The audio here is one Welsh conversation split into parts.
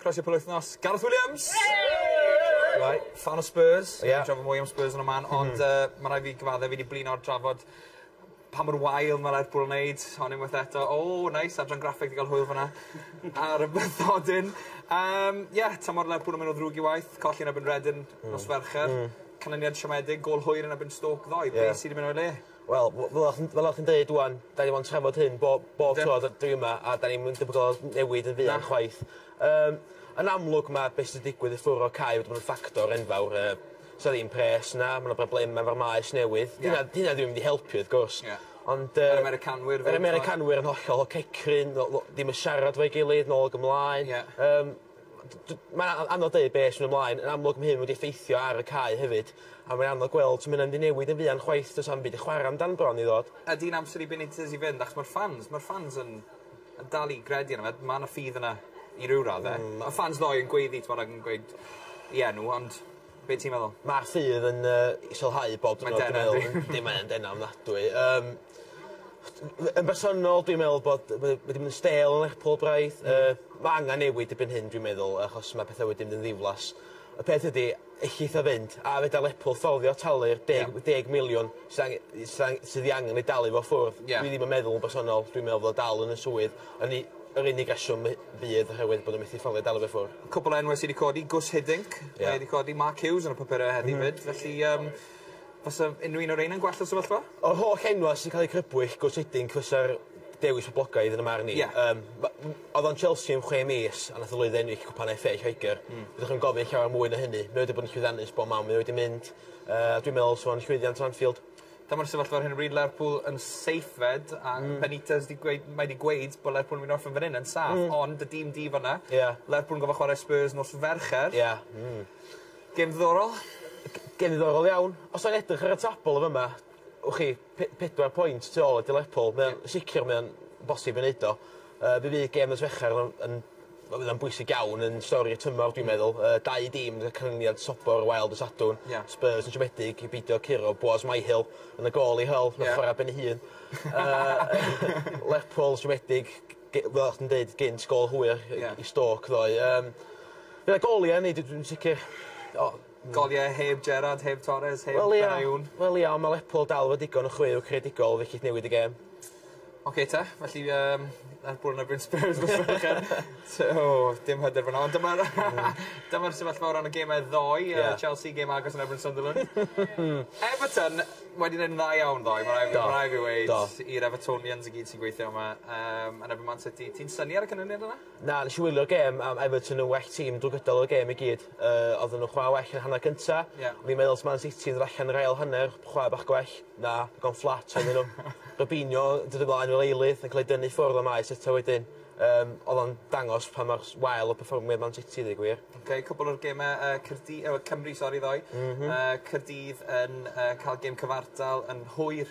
Croeso penwythnos Gareth Williams! Yay! Right, ffan o Spurs. Ie. Ni'n trafod mwy am Spurs yn y man ond yy ma' raid fi gyfadde fi 'di blino'r drafod pa mor wael ma' Lerpwl yn neud hon unwaith eto. O neis adran graffeg 'di ga'l hwyl fan 'na. Ar y bythodyn. Yym ie tymor Lerpwl yn myn' o ddrwg i waeth. Colli yn erbyn Redern nos Fercher. Hmm. Canlyniad siomedig gôl hwyr yn erbyn Stoke ddoe. Ie. Be' sy 'di myn' o'i le? Wel w- fel o' chi'n fel o' chi'n deud ŵan 'dan ni 'di bod yn trafod hyn bob bob tro d- dwi yma a 'dan ni'm yn debygol o newid yn fuan... Na. ...chwaith. Yym yn amlwg ma' be' sy 'di digwydd i ffwr' o Cau wedi bod yn ffactor enfawr yy sa ddim pres 'na ma' 'na broblema efo'r maes newydd. Ie. Dyna dyna ddim mynd i helpu wrth gwrs. Ie. Ond yy... Yr Americanwyr fyn 'yn t'mo'? Yr Americanwyr yn hollol cecryn no- no- dim yn siarad efo'i gilydd nôl ag ymlaen. Ie. Yym. Mae'n anodd deud be' sy'n ymlaen. Yn amlwg ma' hyn wedi effeithio ar y cae hefyd a mae'n anodd gweld sut ma' wnna mynd i newid yn fuan chwaith does na'm byd i chwara amdan bron i ddod. Ydi hi'n amser i Benitez i fynd achos ma'r ffans ma'r ffans yn yn dal i gredu yno fe. Ma' 'na ffydd yna i ryw radde. Hmm. Ma' ffans ddou yn gweiddi t'mod ag yn gweud 'i enw ond Be' ti'n meddwl? Ma'r ffydd yn yy i sylhau bob diwrnod dwi'n meddwl. Mae'n dena yndi? Yndi mae yn dena ofnadwy yym f- yn bersonol dwi'n meddwl bod ma' n'w wedi myn' yn stêl yn Lerpwl braidd yy ma' angan newid dipyn hyn dwi'n meddwl achos ma' petha wedi mynd yn ddiflas. Y peth ydi ellith o fynd a fedar Lerpwl fforddio talu'r deg... Ie. ...deg miliwn sy ange- i sy ang- sydd 'i angen i dalu fo ffwrdd. Ie. Dwi ddim yn meddwl yn bersonol dwi'n meddwl fod o dal yn y swydd yn 'i Yr unig reswm fydd oherwydd bod nhw'n methu fforddio delwedd i ffwr. Cwpl o enwau sy wedi codi, Guus Hiddink, mae wedi codi, Mark Hughes yn y papurau heddi 'fyd, felly yym fasa unrhyw un o reina'n gwell y sefyllfa? O'r holl enwau sy'n cael eu crybwyll, Guus Hiddink fysa'r dewis poblogaidd yn 'y marn i. Yym ma- m- oedd o'n Chelsea am chwe mis a nath o lwyddo i ennill cwpan FA Lloegr. Fyddwch yn gofyn llawer mwy na hynny. Mae wedi bod yn llwyddiannus bob man mae wedi mynd yy a dwi'n meddwl 'sa fo'n llwyddiant o Anfield. Dyma'r sefyllfa ar hyn o bryd Lerpwl yn seithfed a... Hmm. ...Benitez 'di gweud mae 'di gweud bo' Lerpwl yn myn' i orffen fyn 'yn yn saff. Hmm. Ond y dîm di fan 'na. Ie. Lerpwl yn gorfo' chware Spurs nos Fercher. Ie. Hmm. Gêm ddiddorol. G- gêm ddiddorol iawn. Os o'n edrych ar y tabl yn fy' 'ma wch chi pe- pedwar pwynt tu ôl at i Lerpwl mae o'n... Ie. ...sicir mae o'n bosib i neud o. Yy fe fydd gêm nos Fercher yn yn ma' fydd o'n bwysig iawn yn stori'r tymor dwi'n meddwl yy dau dîm yn y canlyniad sobor o wael dy' Sadwrn. Ia. Spurs yn siomedig i beidio curo Boaz Myhill yn y gôl i Hull. Ia. Nath chwara ben 'i hun. Yy Lerpwl siomedig ge- fel o' chdi'n deud gynt gol hwyr... Ia. ...i Stoke ddoe yym. Gyda gol i ennill dwi dwi'n sicir o Golyau heb Gerrard, heb Torres, heb Benayoun. Wel ia, ond mae Lerpwl dal efo digon o chweu creadigol fe gith newid y gêm. Ocê te, felly yym Lerpwl yn erbyn Spurs nos Fercher. So, dim hyder fan'na. Ond dyma'r dyma'r sefyllfa o ran y gemau ddoe. Ie. Yy Chelsea gêm agos yn erbyn Sunderland. Everton wedi neud yn dda iawn ddoe ma' rai' fi... Do. ...ma' rai' fi weud... Do. ...i'r Evertonians i gyd sy'n gweithio yma yym yn erbyn Man City. Ti'n synnu ar y canlyniad yna? Na, nes i wylio'r gêm a ma' Everton yn well team drwy gydol y gêm i gyd. Yy odden nhw'n chwara well yn y hanner cynta. Ie. O'n i'n meddwl os Man City yn dod allan yr ail hanner chwara bach gwell. Na, digon fflat oedden nhw. Robinho yn dod ymlaen fel eilydd yn ca'l ei dynnu i ffwrdd am maes eto wedyn. Yym o'dd o'n dangos pa mor s- wael o perfformiad Man City i ddeu gwir. Oce cwpwl o'r geme yy Caerdy- yy Cymru sori ddoe. M-hm. Yy Caerdydd yn yy ca'l gêm cyfartal yn hwyr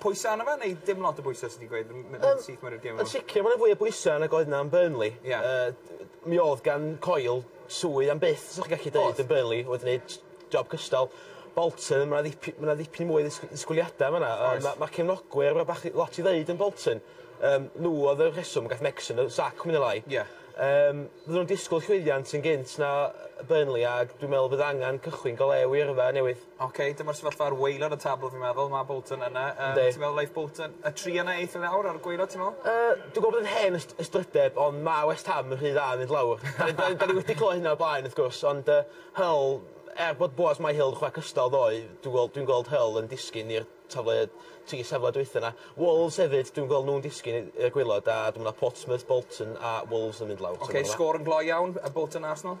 Pwysa arno fe neu dim lot o bwyse ti 'di gweud m- m- yn syth mewn i'r gêm 'wan? Yn sicir ma' 'na fwy o bwysa nag oedd 'na yn Burnley. Ia. Yy d- yy mi o'dd gan Coyle swydd am byth sa chi gallu deud... Odd. ...yn Burnley oedd yn neud job cystal. Bolton ma' 'na ddip- ma' 'na ddipyn mwy o ddisg- disgwyliada yn fan 'na. Oes. Yym ma' ma' cefnogwyr ma' bach ry- lot i ddeud am Bolton. Yym n'w o'dd y rheswm gath Megson y sac mwy ne' lai. Ia. Yym fydden nw'n disgwl llwyddiant yn gynt na yy Burnley ag dwi me'wl bydd angan cychwyn go lew i yrfa newydd. Ok dyma'r sefyllfa ar waelod y tabl fi'n meddwl ma' Bolton yna yy... Yndi. ...ti'n meddwl neith Bolton y tri yna eitha lawr ar y gwaelod ti'n me'wl? Yy dwi gwel' bod yn hen yst- ystrydeb ond ma' West Ham yn rhy dda i mynd lawr. 'Dan ni 'dan ni 'dan ni wedi clywed hynna o'r blaen wrth gwrs ond yy Hull er bod Boaz Myhill yn chware cystal ddoe dwi wel' dwi'n gweld Hull yn disgyn i'r tafle tri safle dwytha 'na. Wolves hefyd dwi'n gwel' nw'n disgyn i i'r gwaelod a dwi me'wl ma' Portsmouth, Bolton a Wolves yn mynd lawr. Ok sgôr yn gloi iawn yy Bolton Arsenal?